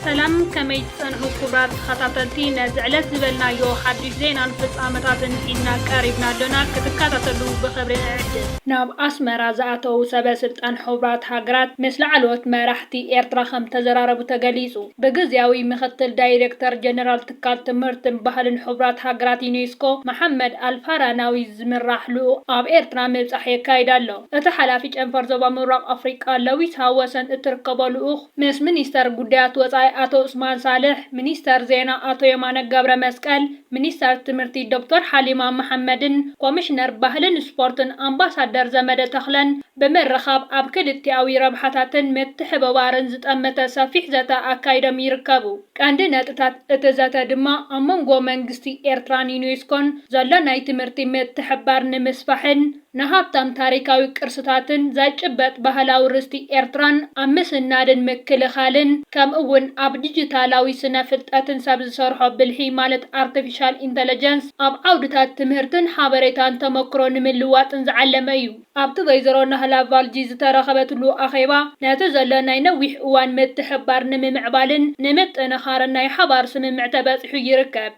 ሰላም ከመይ ትጸንሑ ኩብራት ተኸታተልቲ ነዚ ዕለት ዝበልናዮ ሓድሽ ዜናን ፍጻመታትን ሒዝና ቀሪብና ኣሎና ክትከታተሉ ብኽብሪ ንዕድም። ናብ ኣስመራ ዝኣተዉ ሰበ ስልጣን ሕቡራት ሃገራት ምስ ላዕለዎት መራሕቲ ኤርትራ ከምተዘራረቡ ተገሊጹ። ብግዝያዊ ምክትል ዳይረክተር ጀነራል ትካል ትምህርትን ባህልን ሕቡራት ሃገራት ዩኔስኮ መሓመድ ኣልፋራናዊ ዝምራሕ ልኡኽ ኣብ ኤርትራ ምብጻሕ የካይድ ኣሎ። እቲ ሓላፊ ጨንፈር ዞባ ምብራቕ ኣፍሪቃ ለዊስ ሃወሰን እትርከቦ ልኡኽ ምስ ሚኒስተር ጉዳያት ወጻኢ ኣቶ ዑስማን ሳልሕ፣ ሚኒስተር ዜና ኣቶ የማነ ገብረመስቀል፣ ሚኒስተር ትምህርቲ ዶክተር ሓሊማ መሓመድን ኮሚሽነር ባህልን ስፖርትን ኣምባሳደር ዘመደ ተኽለን ብምርኻብ ኣብ ክልቲኣዊ ረብሓታትን ምትሕብባርን ዝጠመተ ሰፊሕ ዘተ ኣካይዶም ይርከቡ። ቀንዲ ነጥብታት እቲ ዘተ ድማ ኣብ መንጎ መንግስቲ ኤርትራን ዩኔስኮን ዘሎ ናይ ትምህርቲ ምትሕብባር ንምስፋሕን ንሃብታም ታሪካዊ ቅርስታትን ዘይጭበጥ ባህላዊ ርስቲ ኤርትራን ኣብ ምስናድን ምክልኻልን ከምኡ'ውን ኣብ ዲጂታላዊ ስነ ፍልጠትን ሰብ ዝሰርሖ ብልሒ ማለት ኣርተፊሻል ኢንተለጀንስ ኣብ ዓውድታት ትምህርትን ሓበሬታን ተመክሮ ንምልዋጥን ዝዓለመ እዩ። ኣብቲ ወይዘሮ ናህላ ቫልጂ ዝተረኸበትሉ ኣኼባ፣ ነቲ ዘሎ ናይ ነዊሕ እዋን ምትሕብባር ንምምዕባልን ንምጥንኻርን ናይ ሓባር ስምምዕ ተበጺሑ ይርከብ።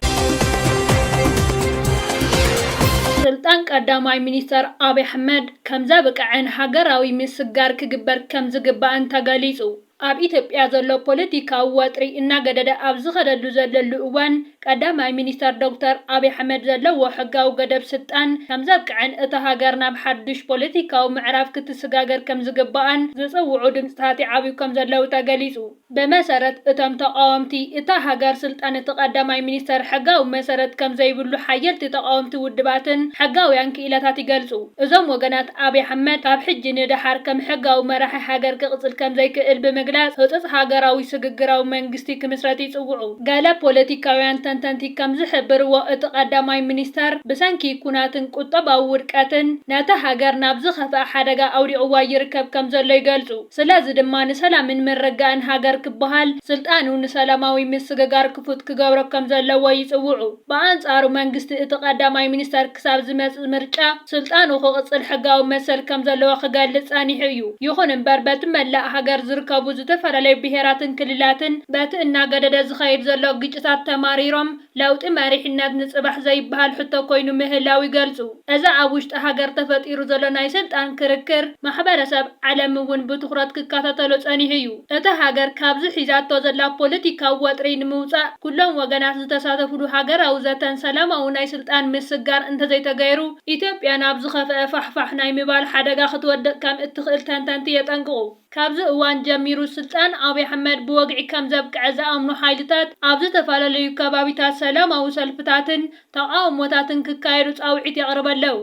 ስልጣን ቀዳማይ ሚኒስተር ኣብይ ኣሕመድ ከምዘብቅዐን ሃገራዊ ምስግጋር ክግበር ከምዝግባእን ተገሊጹ። ኣብ ኢትዮጵያ ዘሎ ፖለቲካዊ ወጥሪ እናገደደ ኣብ ዝኸደሉ ዘለሉ እዋን፣ ቀዳማይ ሚኒስተር ዶክተር ኣብይ ኣሕመድ ዘለዎ ሕጋዊ ገደብ ስልጣን ከምዘብቅዐን እታ ሃገር ናብ ሓዱሽ ፖለቲካዊ ምዕራፍ ክትስጋገር ከምዝግባኣን ዝጽውዑ ድምጽታት ይዓብዩ ከምዘለዉ ተገሊጹ። ብመሰረት እቶም ተቓወምቲ፣ እታ ሃገር ስልጣን እቲ ቀዳማይ ሚኒስተር ሕጋዊ መሰረት ከምዘይብሉ ሓየልቲ ተቓወምቲ ውድባትን ሕጋውያን ክኢላታት ይገልጹ። እዞም ወገናት ኣብይ ኣሕመድ ካብ ሕጂ ንደሓር ከም ሕጋዊ መራሒ ሃገር ክቕጽል ከምዘይክእል ብምግላጽ ህጹጽ ሃገራዊ ስግግራዊ መንግስቲ ክምስረት ይጽውዑ። ገለ ፖለቲካውያን ተንተንቲ ከምዝሕብርዎ እቲ ቀዳማይ ሚኒስተር ብሰንኪ ኩናትን ቁጠባዊ ውድቀትን ነታ ሃገር ናብ ዝኸፍኣ ሓደጋ ኣውዲቕዋ ይርከብ ከምዘሎ ይገልጹ። ስለዚ ድማ ንሰላምን ምርግጋእን ሃገር ክበሃል ስልጣኑ ንሰላማዊ ምስግጋር ክፉት ክገብሮ ከምዘለዎ ይጽውዑ። ብኣንጻሩ መንግስቲ እቲ ቀዳማይ ሚኒስተር ክሳብ ዝመጽእ ምርጫ ስልጣኑ ክቕጽል ሕጋዊ መሰል ከም ዘለዎ ክገልጽ ጸኒሑ እዩ። ይኹን እምበር በቲ መላእ ሃገር ዝርከቡ ዝተፈላለዩ ብሄራትን ክልላትን በቲ እናገደደ ዝኸይድ ዘሎ ግጭታት ተማሪሮም ለውጢ መሪሕነት ንጽባሕ ዘይበሃል ሕቶ ኮይኑ ምህላው ይገልጹ። እዚ ኣብ ውሽጢ ሃገር ተፈጢሩ ዘሎ ናይ ስልጣን ክርክር ማሕበረሰብ ዓለም እውን ብትኹረት ክከታተሎ ጸኒሑ እዩ። እታ ሃገር ካብዚ ሒዛቶ ዘላ ፖለቲካዊ ወጥሪ ንምውጻእ ኩሎም ወገናት ዝተሳተፍሉ ሃገራዊ ዘተን ሰላማዊ ናይ ስልጣን ምስግጋር እንተዘይተገይሩ ኢትዮጵያ ናብ ዝኸፈኣ ፋሕፋሕ ናይ ምባል ሓደጋ ክትወድቕ ከም እትኽእል ተንተንቲ የጠንቅቑ። ካብዚ እዋን ጀሚሩ ስልጣን ኣብይ ኣሕመድ ብወግዒ ከም ዘብቅዐ ዝኣምኑ ሓይልታት ኣብ ዝተፈላለዩ ከባቢታት ሰላማዊ ሰልፍታትን ተቓውሞታትን ክካየዱ ጻውዒት የቕርበለው።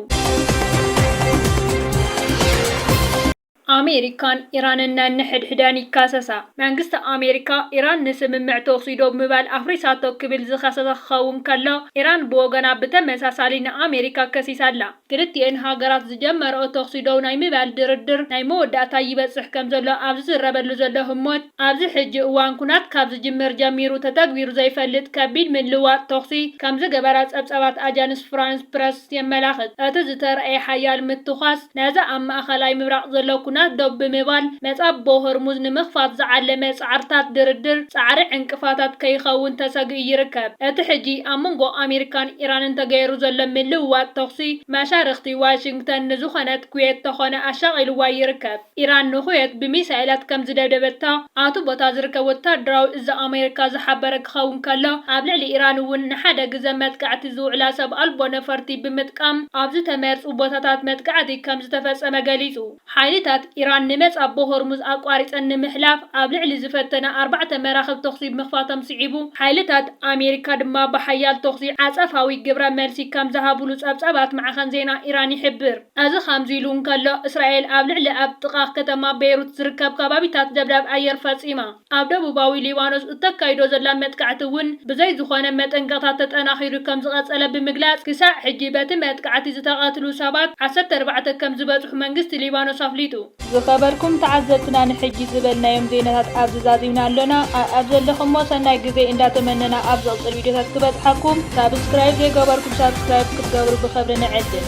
ኣሜሪካን ኢራንን ነንሕድሕደን ይካሰሳ። መንግስቲ ኣሜሪካ፣ ኢራን ንስምምዕ ተኹሲ ዶብ ምባል ኣፍሪሳቶ ክብል ዝኸሰሰ ክኸውን ከሎ፣ ኢራን ብወገና ብተመሳሳሊ ንኣሜሪካ ከሲሳ ኣላ። ክልቲኤን ሃገራት ዝጀመርኦ ተኹሲ ደው ናይ ምባል ድርድር ናይ መወዳእታ ይበጽሕ ከም ዘሎ ኣብ ዝዝረበሉ ዘሎ ህሞት፣ ኣብዚ ሕጂ እዋን ኩናት ካብ ዝጅምር ጀሚሩ ተተግቢሩ ዘይፈልጥ ከቢድ ምልውዋጥ ተኹሲ ከም ዝገበራ ጸብጻባት ኣጃንስ ፍራንስ ፕረስ ፖስት የመላኽት። እቲ ዝተራእየ ሓያል ምትኳስ፣ ነዚ ኣብ ማእከላይ ምብራቕ ዘሎ ኵናት ደው ብምባል መጻብቦ ሆርሙዝ ንምኽፋት ዝዓለመ ጻዕርታት ድርድር ጻዕሪ ዕንቅፋታት ከይኸውን ተሰጊኡ ይርከብ። እቲ ሕጂ ኣብ መንጎ ኣመሪካን ኢራንን ተገይሩ ዘሎ ምልውዋጥ ተዅሲ፣ መሻርኽቲ ዋሽንግተን ንዝዀነት ኩዌት ተዀነ ኣሻቒልዋ ይርከብ። ኢራን ንኩዌት ብሚሳኤላት ከም ዝደብደበታ ኣብቲ ቦታ ዝርከብ ወተሃደራዊ እዚ ኣሜሪካ ዝሓበረ ክኸውን ከሎ፣ ኣብ ልዕሊ ኢራን እውን ንሓደ ግዘ መጥቃዕቲ ዝውዕላ ሰብ ኣልቦ ነፈርቲ ብምጥቃም ኣብ ዝተመርጹ ቦታታት መጥቃዕቲ ከም ዝተፈጸመ ገሊጹ። ሓይልታት ኢራን ንመጻቦ ሆርሙዝ ኣቋሪጸን ንምሕላፍ ኣብ ልዕሊ ዝፈተና ኣርባዕተ መራኽብ ተኹሲ ምኽፋቶም ስዒቡ፣ ሓይልታት ኣሜሪካ ድማ ብሓያል ተኹሲ ዓጸፋዊ ግብረ መልሲ ከም ዝሃቡሉ ጸብጻባት ማዕኸን ዜና ኢራን ይሕብር። እዚ ኸምዚ ኢሉ እንከሎ፣ እስራኤል ኣብ ልዕሊ ኣብ ጥቓ ከተማ ቤይሩት ዝርከብ ከባቢታት ደብዳብ ኣየር ፈጺማ። ኣብ ደቡባዊ ሊባኖስ እተካይዶ ዘላ መጥቃዕቲ እውን ብዘይ ዝዀነ መጠንቀቕታ ተጠናኺሩ ከም ዝቐጸለ ብምግላጽ፣ ክሳዕ ሕጂ በቲ መጥቃዕቲ ዝተቐትሉ ሰባት ዓሰርተ ኣርባዕተ ከም ዝበጽሑ መንግስቲ ሊባኖስ ኣፍሊጡ። ዝኸበርኩም ተዓዘብትና ንሕጂ ዝበልናዮም ዜናታት ኣብዚ ዛዚምና ኣሎና ኣኣብ ዘለኹሞ ሰናይ ግዜ እንዳ ተመነና ኣብ ዝቕጽል ቪድዮታት ክበጽሓኩም ሳብስክራይብ ዘይገበርኩም ሳብስክራይብ ክትገብሩ ብኽብሪ ንዕድም።